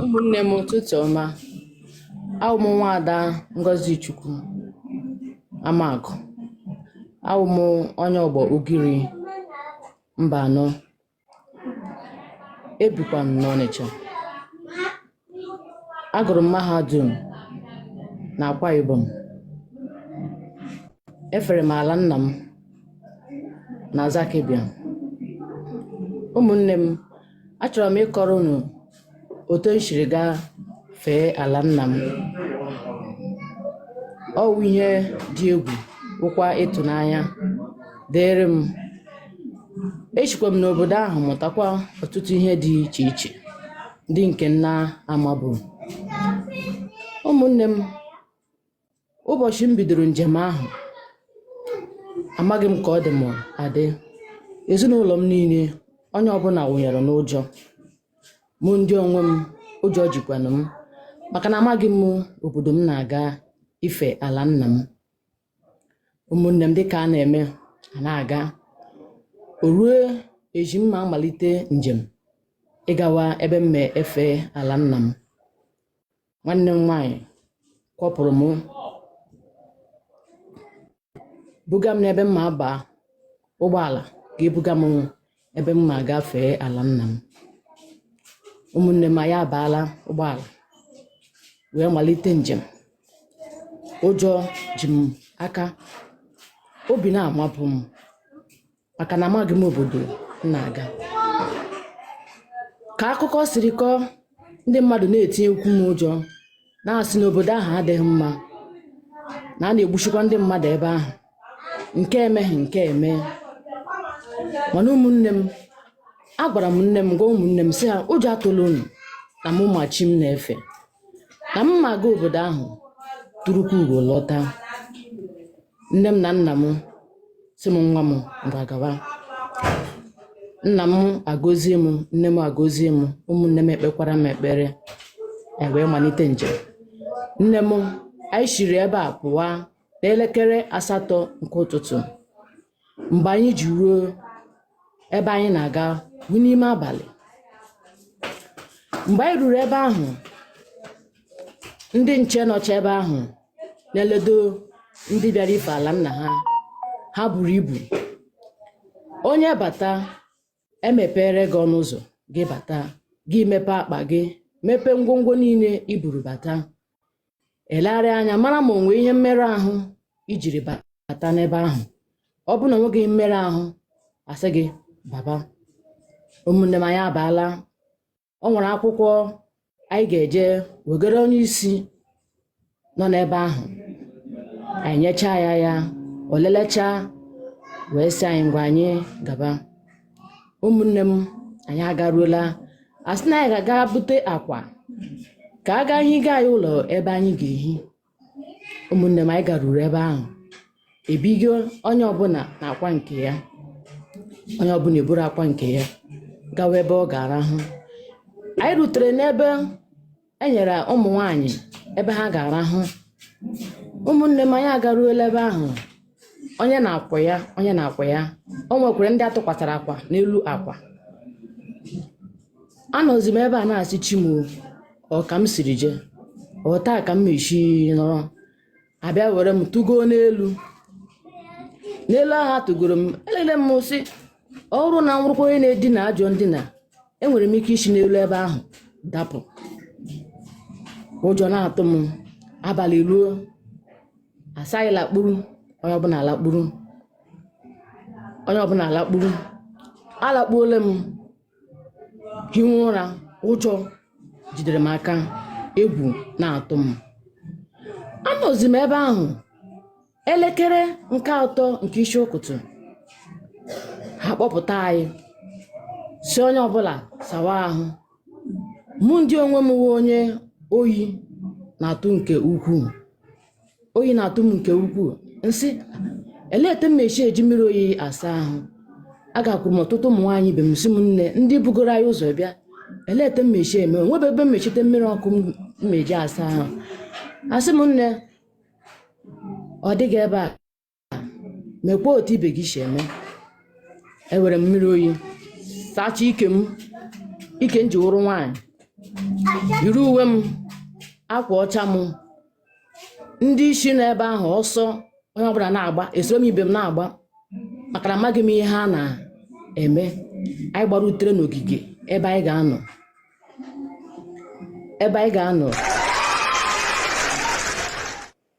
ụmụnne m ụtụtụ ọma awụ m nwaada ngozi chukwu amagụ awụ m onye ọgbọ ugiri mba anọ ebikwa m n'ọnịcha agụrụ m mahadum na akwa ibom efere m ala nna m na zaki biam ụmụnne m achọrọ m ịkọrọ unu otu m siri gaa fee ala nna m ọ wụ ihe dị egwu wụkwa ịtụnanya dịrị m esikwa m n'obodo ahụ mụtakwa ọtụtụ ihe dị iche iche ndị nke m na-amabu ụmụnne m ụbọchị m bidoro njem ahụ amaghị m ka ọ dị m adị ezinụlọ m niile onye ọbụla wụnyere n'ụjọ mụ ndị onwe m ụjọ jikwanụ m maka na amaghị m obodo m na-aga ife ala nna m ụmụnne m dịka a na-eme a na-aga o ruo echi m ma amalite njem ịgawa ebe m ma efe ala nna m nwanne m nwaanyị kwọpụrụ m buga m n'ebe m ma aba ụgbọala ga-ebuga m ebe m ma aga fee ala nna m ụmụnne m anyị abaala ụgbọala wee malite njem ụjọ ji m aka obi na-amapụ m maka na amaghị m obodo m na-aga ka akụkọ siri kọọ ndị mmadụ na-etinyekwu m ụjọ na-asị na obodo ahụ adịghị mma na a na-egbusikwa ndị mmadụ ebe ahụ nke emeghị nke eme mana ụmụnne m agwara m nne m gwa ụmụnne m sị ha ụjọ atụla unu na mụ ma chi m na-efe na m ma aga obodo ahụ turukwu ugo lọta nne m na nna m sị m nwa m ngwa gawa nna m agọzie m nne m agọzie m ụmụnne m ekpekwara m ekpere e wee malite njem nne m anyị siri ebe a pụwa n'elekere asatọ nke ụtụtụ mgbe anyị ji ruo ebe anyị na-aga wụ n'ime abalị mgbe anyị ruru ebe ahụ ndị nche nọcha ebe ahụ na-eledo ndị bịara ife ala nna ha ha buru ibu onye bata emepere gị ọnụ ụzọ gị bata gị mepe akpa gị mepee ngwongwo niile i buru bata elegharịa anya mara ma onwe ihe mmerụ ahụ ijiri bata n'ebe ahụ ọ bụrụ na onweghị mmerụ ahụ asị gị baba ụmụnne m anyị abaala o nwere akwụkwọ anyị ga-eje wegara onye isi nọ n'ebe ahụ anyị nyechaa ya ya o lelechaa wee sị anyị ngwa anyị gaba ụmụnne m anyị agaruola a sị na anyị ga-aga bute akwa ka a gaa higa anyị ụlọ ebe anyị ga-ehi ụmụnne m anyị garuru ebe ahụ ebigo onye ọbụla na akwa nke ya onye ọbụla eburu akwa nke ya gawa ebe ọ ga-arahụ anyị rutere n'ebe e nyere ụmụ nwaanyị ebe ha ga-arahụ ụmụnne m anyị agaruola ebe ahụ onye na akwa ya onye na akwa ya o nwekwara ndị atụkwasara akwa n'elu akwa anọzi m ebe a na-asị chi m o, ọ ka m siri jee otu a ka m mesi nọrọ abịa were m tụgo n'elu n'elu ahụ atụgoro m elele m sị ọ bụrụ na m wụrụkwa onye na-edina ajọ ndina enwere m ike isi n'elu ebe ahụ dapụ ụjọ na-atụ m abalị eruo asị anyị lakpuru onye ọbụla alakpuru onye ọbụla alakpuru alakpuola m hiwe ụra ụjọ jidere m aka egwu na-atụ m anọzi m ebe ahụ elekere nke atọ nke isi ụtụtụ ha kpọpụta anyị sị onye ọbụla sawa ahụ mụ ndị onwe m wụ onye oyi na-atụ nke ukwuu oyi na-atụ m nke ukwuu m sị elee etu m na-esi eji mmiri oyi asa ahụ agakwuru m ọtụtụ ụmụ nwaanyị ibe m sị m nne ndị bugoro anyị ụzọ bịa elee etu m na-esi eme onwebe ebe m mesite mmiri ọkụ m na-eji asa ahụ asị m nne ọ dịghị ebe a mekwa otu ibe gị si eme ewere m mmiri oyi sachaa ike m ike m ji wụrụ nwaanyị yiri uwe m akwa ọcha m ndị isi nọ ebe ahụ ọsọ onye ọbụla na-agba esoro m ibe m na-agba maka na amaghị m ihe ha na-eme anyị gbarutere n'ogige ebe ebe anyị ga-anọ